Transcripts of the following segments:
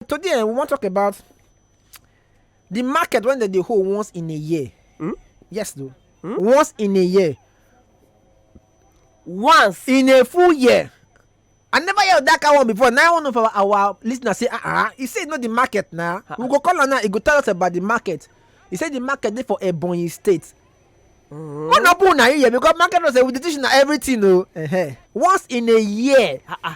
today eh, we wan talk about the market wey dem dey hold once in a year hmm? yes though hmm? once in a year once in a full year i never hear that kind one before now one of our our listeners say ah ah he say e no the market na uh -uh. we go call am now he go tell us about the market he say the market dey for ebonyi state Mm. One open na here because market no say we dey teach na everything o. Oh. Uh -huh. Once in a year. Uh -uh.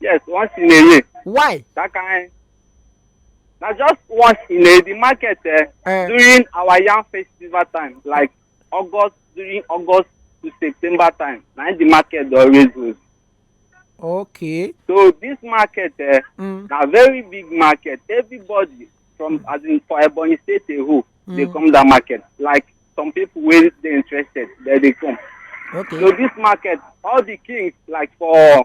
Yes, once in a year. Why? That kind. Now just once in a the market eh, Eh. during our yam festival time, like August during August to September time, na the market dey always hold. Okay. So this market eh, Mm. na very big market. Everybody from as in for Ebonyi State a whole dey come that market. Like some people wey dey interested, dem dey come. So Okay. this market, all the kings like for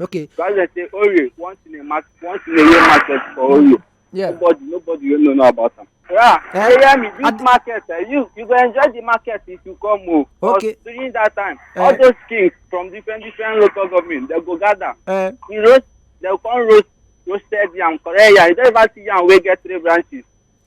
Okay. So as I say, Ori, once in a match, once in a year market for Ori. Yeah. Nobody, nobody will know about them. Yeah, eh? you hear me? This Ad market, uh, you you go enjoy the market if you come home. Oh. Okay. During that time, uh, all those kings from different different local government, they go gather. Uh, you roast, they come roast roasted yam, correct yam. You don't even see yam wey get three branches.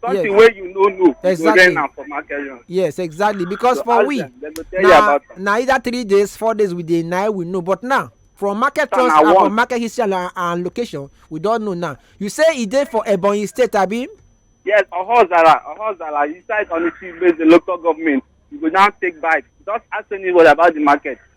something yes. wey you no know exactly. you go rent am for market run. yes exactly because so for we them, na na either three days four days we dey na we know but now from market trust and from market history and, and location we don know now you say e dey for ebonyi state abi. yes ohozara ohozara inside onitsha based the local government you go now take bike just ask anybody about the market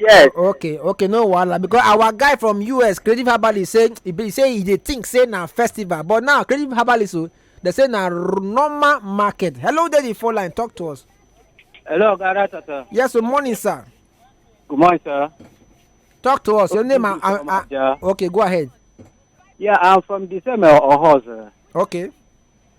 yes okay okay no wahala because our guy from us creative herbalist say he be say he dey think say na festival but now creative herbalist o oh, dey say na normal market hello there the phone line talk to us. hello oga ratata. yes good morning sir. good morning sir. talk to us your name and uh, uh, okay go ahead. yeah i'm from the same uh, oho sir. okay.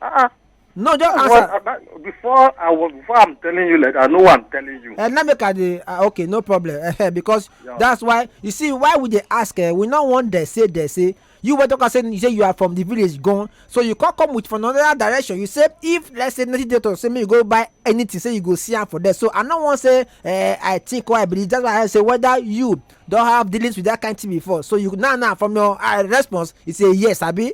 Uh-uh. no just What, answer about, before I was before I'm telling you like I know what I'm telling you. Uh, let me cut the uh, okay no problem uh, because yeah. that's why you see why would they ask uh, we not want they say they say you were talking saying you say you are from the village gone so you can't come with from another direction you say if let's say ninety days say me you go buy anything say you go see am for there so i no wan say uh, i think or i believe that's why i say whether you don have dealings with that kind thing before so you now now from your uh, response you say yes abi.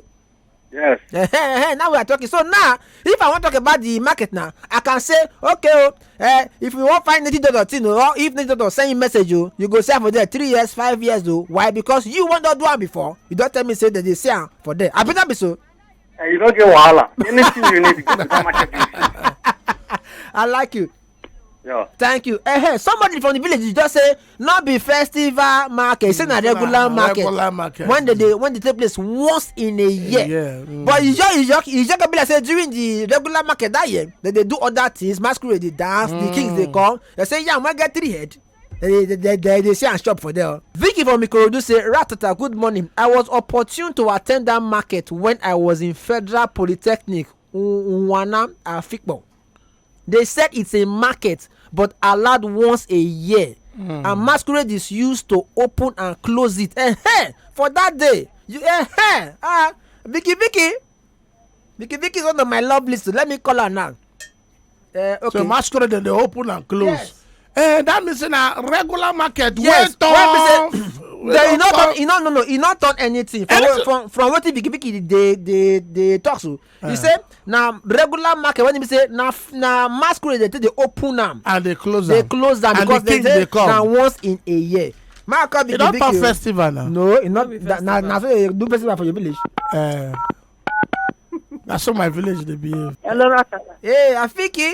Yes. Eh, eh, eh, now we are talking. So now, if I want to talk about the market now, I can say, okay, oh, eh, if you want find native doctor, thing, oh, or if native doctor send you message, you, oh, you go sell for there three years, five years, though. Why? Because you want to do one before. You don't tell me say that they say am for there. I better be so. Eh, you don't get wahala. Anything you need, go to the market. I like you. Yeah. thank you eh, eh, somebody from the village just say no be festival market say na regular market regular market when they dey when they take place once in a year yeah, mm. but you just you just you just go be like say during the regular market that year they dey do other things masquerade dey dance mm. the kings dey mm. come they say yam wan get three head they they they they, they see am chop for there. Oh. vicky from ikorodu say ratata good morning i was opportune to attend that market when i was in federal polytechnic unwana afikpo. They said it's a market, but allowed once a year. Mm. And masquerade is used to open and close it. Eh, eh, for that day, you eh, eh, ah, Vicky, Vicky, Vicky, Vicky is one of my love list. Let me call her now. Uh, okay. So masquerade they open and close. Yes. Eh, that means in a regular market. Yes. Wait, well, they e no turn e no no no e no turn anything from anything. from from wetin bikibiki dey dey dey talk so Uh, you eh. say na regular market when you say na na masquerade dey take dey open am. and dey close am dey close am because they say na once in a year. my call be the big you. e festival na. no e no na na so they do festival for your village. Uh, na so my village dey behave. hello rakata. hey afiki.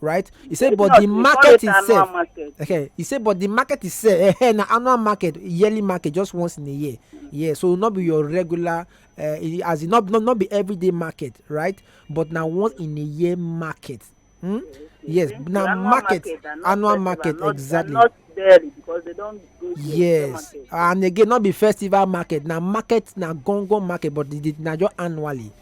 right he say but the market itself okay he say but the market itself eh, eh, na annual market yearly market just once in a year yeah so not be your regular uh, as in not, not not be everyday market right but na once in a year market hmm? yes na market annual market exactly barely because they don't go yes and again not be festival market na market na gongon market but na just annually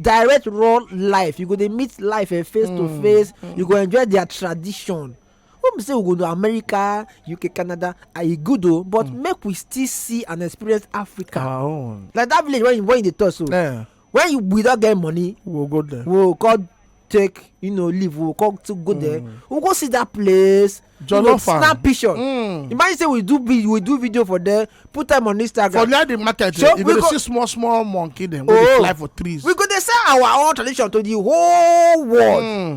direct raw life you go dey meet life eh, face to mm, face mm. you go enjoy their tradition when we say we go to america uk canada ah, e good o but mm. make we still see and experience africa our own like that village when you when you dey talk so yeah. when you we don get money we we'll go there we we'll go take you know leave we we'll go to go mm. there we we'll go see that place jollof am snap picture mm. imagine say we do we do video for there put am on instagram for near the market so you go dey see small small monkey dem wey dey oh. fly for trees we go dey sell our own tradition to the whole world mm.